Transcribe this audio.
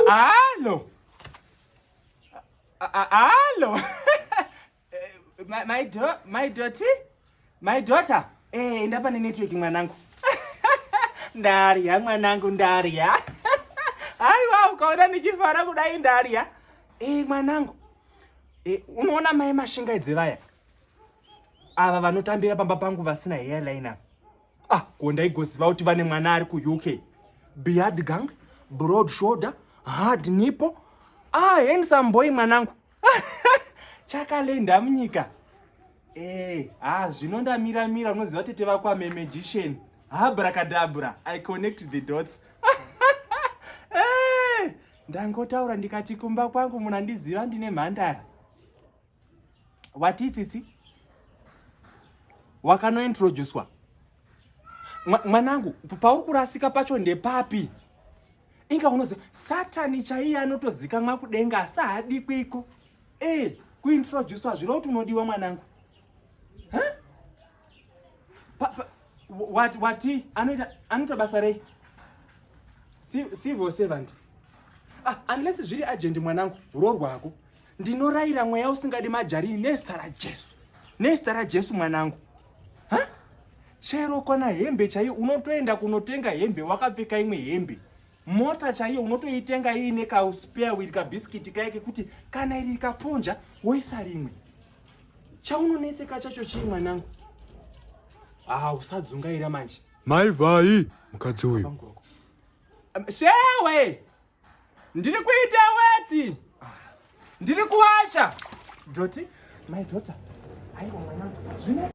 Allo. Allo. my, my, do my daughter? My daughter? Eh, enda pane network mwanangu. Ndarya mwanangu ndarya. Aiwa ukaona ndichifara kudai ndarya. Eh, mwanangu. Eh, unoona mai mashingaidzevaya. ava vanotambira pamba pangu vasina hair liner ah ko ndaigoziva kuti vane mwana ari kuuk beard gang broad shoulder hard nipo ah handsome boy mwanangu chakalenda munyika eh ah zvino ndamira mira unoziva tete vako ame magician habrakadabra i connect the dots eh ndangotaura ndikati kumba kwangu munandiziva ndine mhandara watii tsitsi wakanointroducwa mwanangu pauri kurasika pacho ndepapi inga unoziva satani chaiye anotozikamwa kudenga asi haadikwiko e eh, kuintroducwa zviro kuti unodiwa mwanangu wati wati anoita anoita basa rei civil servant ah, unless zviri agent mwanangu roorwa hako Ndinorayira mweya usingadi majarini nezita raJesu. Nezita raJesu mwanangu. Ha? Chero kana hembe chaiyo unotoenda kunotenga hembe wakapfeka imwe hembe. Mota chaiyo unotoitenga iine ka spare wheel ka biscuit kaye kekuti kana iri kaponja woisa rimwe. Chaunoneseka chacho chii mwanangu? Ah, usadzungaira manje. Mai vhai mukadzi uyu. Shewe! Ndiri kuita weti. Ndiri kuwacha. Doti, my daughter. Aiwa mwanangu. Zvine